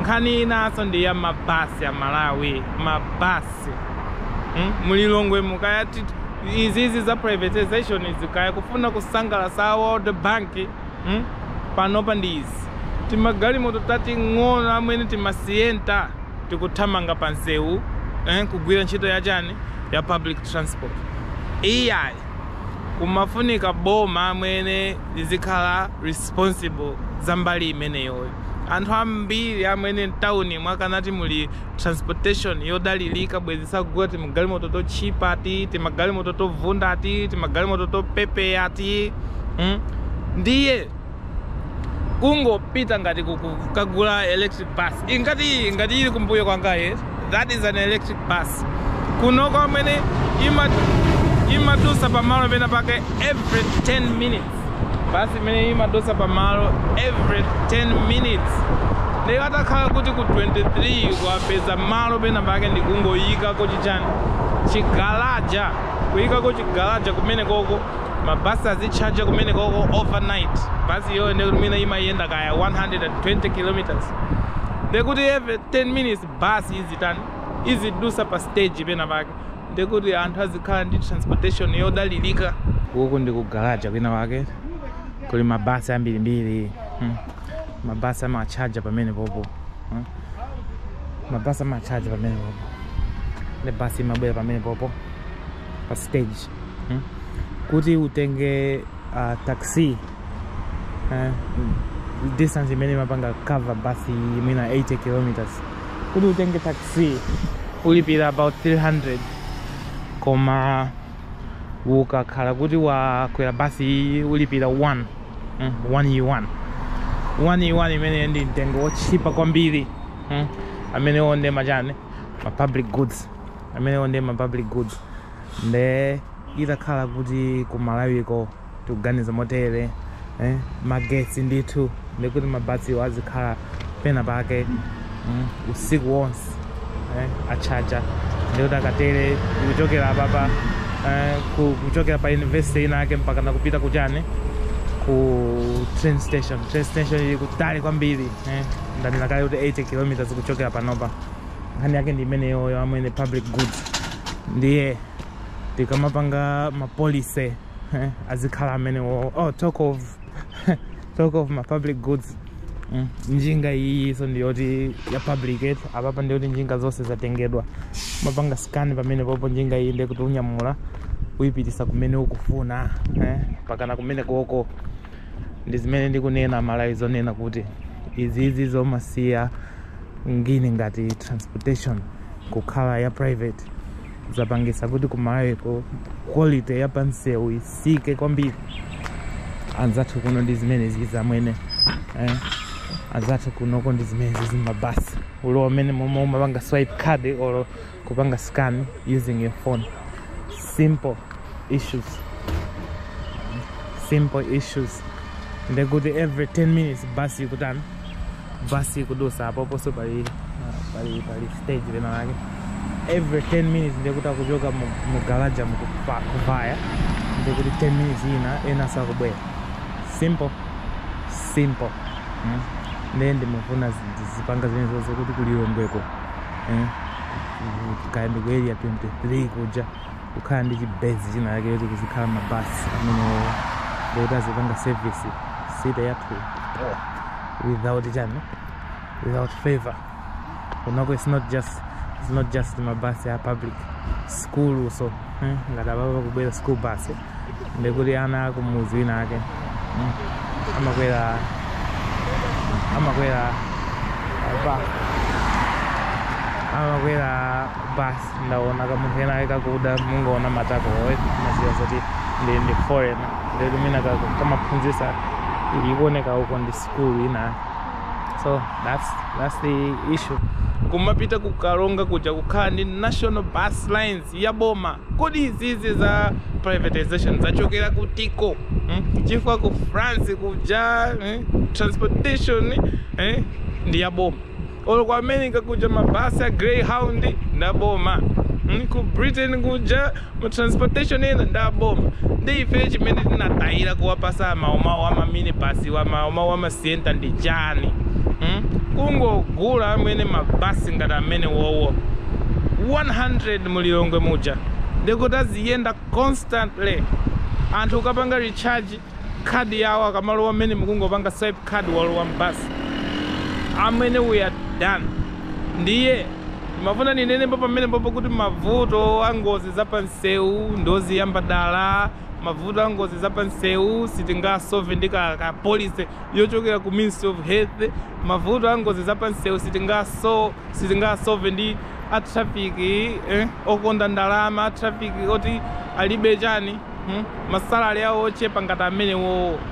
Nkhani inanso ndi ya mabasi a Malawi, mabasi hmm? mu Lilongwe mu kaya izizi za privatization izi kaya kufuna kusangalasa a World Bank hmm? panopa ndi izi timagalimoto tating'ono amwene tima Sienta tikuthamanga pa msewu eh? kugwira ntchito ya chani ya public transport iyayi kumafunika boma amwene lizikhala responsible za mbali imeneyoyo. Anthu ambiri amene mtawuni mwakanati muli transportation yodalirika bwezi sakugula timagalimoto totchipa ati timagalimoto tovunda ati timagalimoto topepeya ati hmm? ndiye kungopita ngati kukagula electric bus ingati ngati ili kumbuyo kwanga yes that is an electric bus kunoko amwene imadusa pamalo pena pake every 10 minutes basi imene imadutsa pamalo every 10 minutes ndiye atakhala kuti ku 23 kuapeza malo pena pake ndikungoyikako chichani chigalaja kuyikako chigalaja kumenekoko mabasi azitchaja kumenekoko overnight basi iyoyo ndiye kuti mwina imayenda kaya 120 kilometers ndiye kuti every 10 minutes basi izitani izidusa pa stage pena pake ndekuti anthu azikhala ndi transportation yodalirika. Uku ndi ku garaja kwina wake kuli mabasi ambirimbiri hmm. mabasi amatchaja pamenepopo hmm. mabasi amatchaja pamenepopo nde basi imabwera pamenepopo pa stage hmm. kuti utenge uh, taxi uh, distance imene imapanga cover basi mwina 80 kilometers kuti utenge taxi ulipira about 300 koma ukakhala kuti wakwera basi iyi ulipira 1 mm, 1 e 1 1 e 1 imene ndi mtengo wotchipa kwambiri mm, amenewo nde machani ma public goods amenewo nde ma public goods nde itakhala kuti ku Malawiko tikuganiza motere eh? magetsi ndithu ndekuti mabasiwo azikhala pena pake mm? usiku wonse eh? atchaja ndekuti akatere kuchokera apapa eh? ku- kuchokera pa university ina yake mpaka nakupita kuchani ku train station train station ili kutali kwambiri eh? ndanena kale kuti 80 kilometers kuchokera panopa nkhani yake ndi imeneyoyo amwene public goods ndiye tikamapanga mapolicy eh, azikhala amene wo oh, talk of talk of ma public goods mm. njinga iyinso ndiyoti ya public eh apapa ndiyoti njinga zonse zatengedwa umapanga scan pamene popo njinga iyi ndekuti unyamula uyipitisa kumene ukufuna eh, mpakana kumene koko ndi zimene ndikunena malawi zonena kuti izizi zomasiya ngini ngati transportation kukhala ya private zapangisa kuti kumalawiko quality ya pamsewu itsike kwambiri anzathu kuno ndi zimene zizamwini eh? anzathu kunoko ndi zimene zimabasi olo amene momwe umapanga swipe card or kupanga scan using your phone simple issues simple issues ndikuti every 10 minutes bus ikutani bus ikudutsa apoponso pali pali pali stage lina lake every 10 minutes ndikuti akuchoka mu- mu garage mukupa- kuvaya ndikuti 10 minutes ina ena akubwera simple simple mm. ndiye ndimafuna zi- zi- azipanga zimene zozi kuti kulilongweko mm. kaya ndi ku area 23 kuja kukhala ndi chibase china chake choti kuzikhala mabasi amenewo ndikuti azipanga service city yathu without chani without favor kunoko it's not just it's not just mabasi a public school so eh, ngati apapa pakubwera school bus eh. ndikuti ana akumudzi wina ake mm, amakwera amakwera apa amakwera bus ndaona kamunthu ena ake kakuda mungaona matako umadziwa zoti ndi ndi foreigner ndikuti mwina kamaphunzisa ikuoneka uko ndi sikulu ina so that's, that's the issue kumapita ku Karonga kuja kukhala ndi national bus lines ya boma. Kodi izizi za privatization zachokera kutiko mm? chifukwa ku France kuja eh? transportation eh? ndi ya boma olo ku America kuja mabasi a Greyhound nda boma mm? ku Britain kuja ma transportation ena nda boma ndiye ife chimene tinatayira kuwapasa maomawo amaminibasi wa maomawo ama sienta ndi chani mm? kungogula amene mabasi ngati amene wowo 100 mulilongwe muja ndikuti aziyenda constantly anthu akapanga recharge khadi yawo akamalowa mmenemu kungopanga swipe khadi walowa m'basi amwene we are done ndiye ndimafuna ndinenebe pamenepopo kuti mavuto a ngozi za pamsewu n'zoziyamba dala mavuto a ngozi za pansewu sitingasolve ndi ka, ka policy yochokera ku ministry of health mavuto a ngozi za pansewu sitingaso sitingasolve ndi a traffic eh, okonda ndalama a traffic oti alibe chani hmm? masalari awo ochepa ngati amenewowo